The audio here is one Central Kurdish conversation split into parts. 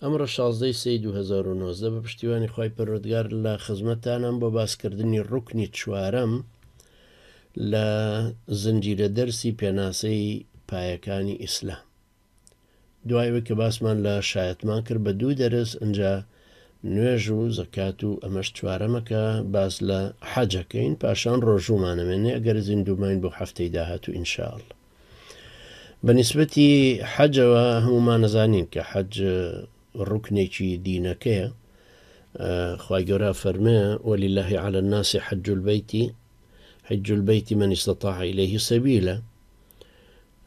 ئەمڕۆ شازدە ی سێی دوو هەزار و نۆزدە بە پشتیوانی خوای پەروەردگار لە خزمەتتانام بۆ باسکردنی ڕوکنی چوارەم لە زنجیرە دەرسی پێناسەی پایەکانی ئیسلام دوای ئەوەی کە باسمان لە شایەتمان کرد بە دوو دەرس ئەجا نوێژ و زەکات و ئەمەش چوارەمەکە باس لە حەجەکەین پاشان ڕۆژوومانەمێنێ ئەگەر زیندووماین بۆ هەفتەی داهات و ئینشاءله بە نسبەتی حەجەوە هەمومان نەزانین کە حەج ڕوکنێکی دینەکەیە خی گەورە فەرمێ وەلی اللهی على الناسی حەج البیتی حج البیتی من استطاع إليه سبيلا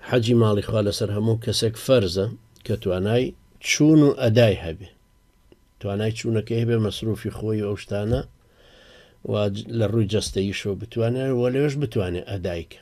حەجی ماڵی خوا لەسەر هەموو کەسێک فەرزە کە توانای چوون و ئەدای هەبێ توانای چوونەکە هەبێ مەسروفی خۆی ئەو شتانە لە ڕووی جەستەیشەوە بتوانێت وە لەوێش بتوانێت ئەدایکە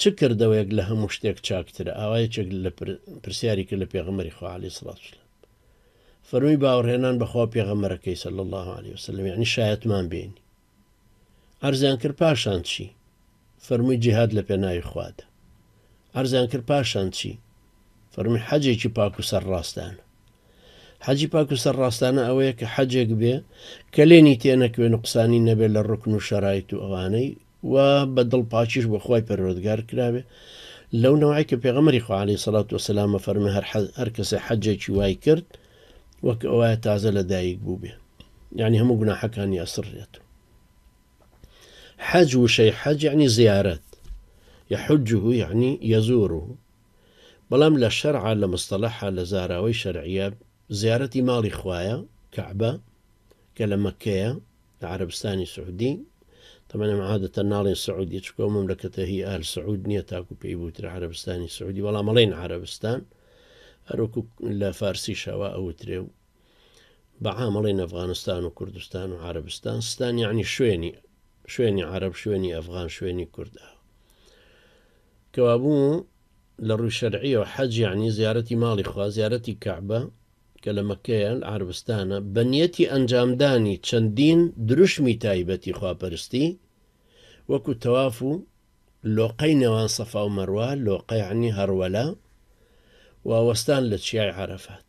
چ کردەوەیەک لە هەموو شتێک چاکترە؟ ئاوا یەکێک لە پرسیاری کرد لە پێغەمبەری خوا علیە سڵات وسلام فەرمی باوەڕهێنان بەخوا و پێغەمبەرەکەی سەل الله عليه وسلم یعنی شایەتمان بینی عرضیان کرد پاشان چی فەرمووی جیهاد لە پێناوی خوادە عرضیان کرد پاشان چی فەرمی حەجێکی پاک و سەر ڕاستانە حەجی پاک و سەر ڕاستانە ئەوەیە کە حەجێک بێ کە لێنی تێنەکوێن و قسانی نەبێت لە ڕکن و شەرایت و ئەوانەی و بە دڵ پاکیش بۆ خوای پەروەردگار کرابێ لەو نەوعەی کە پێغەمبەری خوا علیە سەڵات وەسەلام ئەفەرمێ هەر حەج هەر کەسێ حەجێکی وای کرد وەک ئەوایە تازە لە دایک بووبێ یعنی هەموو گوناحەکانی ئەسڕێت و حەج وشەی حەج یعنی زیارەت يحجه يعني يزوره بەڵام لە شەرع لە مستەلەحە لە زاراوەی شەرعە زیارەتی ماڵی خوایە کەعبە کە لە مەککەیە لە عەرەبستانی سعودی طبعا ئەم عادەتە ناڵێن سعودی چکۆ مەملەکەتە هی ئال سعود نییە تاکو پێی بوترە عەرەبستانی سعودی بەڵام مەڵێن عەرەبستان هەروکو لە فارسی شەوا ئەوترێ و بە عامەڵێن ئەفغانستان و کوردستان و عربستان ستان یعنی شوێنی شوێنی عرب شوێنی ئەفغان شوێنی کورددا کەوابوو لە ڕووی شەرعیەوە حەج یعنی زیارەتی ماڵی خوا زیارەتی کەعبە کە لە مەککەیە، عەربستانە، بە نیەتی ئەنجامدانی چەندین دروشمی تایبەتی خواپەرستی، وەکو تەواف و لۆقەی نێوان سەفا و مەروە، لۆقە یەعنی هەڕوەلە، و وەستان لە چیای عەرەفات.